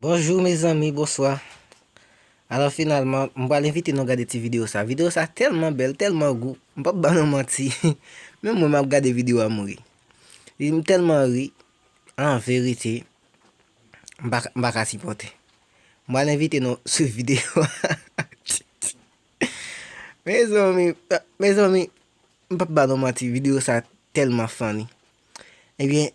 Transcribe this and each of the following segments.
Bonjou mezanmi bonswa Alò finalman m pral envite nou gade ti video sa Video sa tèlman bèl tèlman gou M pap ba nou manti Menm mwen map gade video a m ri M tèlman ri an verite M pa m pa ka sipòte M pral envite nou swiv video a Mezanmi mezanmi M pap ba nou manti video sa tèlman funny Ebyen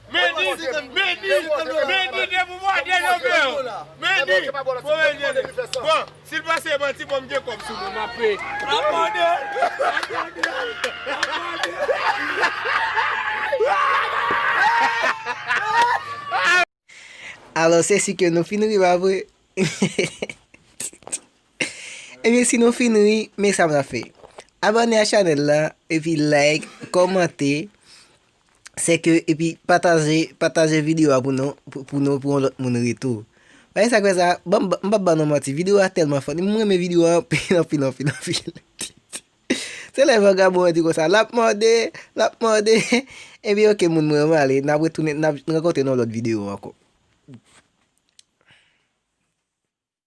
Alò se si ke nou fin ri pa vre? Ebyen si nou fin ri, men sa m ap fè. Abòne a chanèl la, epi like, kòmante. Sèke epi pataje pataje video a pou nou pou nou pou yon lòt moun ri tou bagay sa kwè sa banm m pap ba nou manti video a tèlman funny m renmen video a anpil anpil anpil anpil se lè vagabon an di konsa lap mòde lap mòde ebyen ok moun mwen mwen ale nap retounen nap rankontre nan yon lòt video ankò.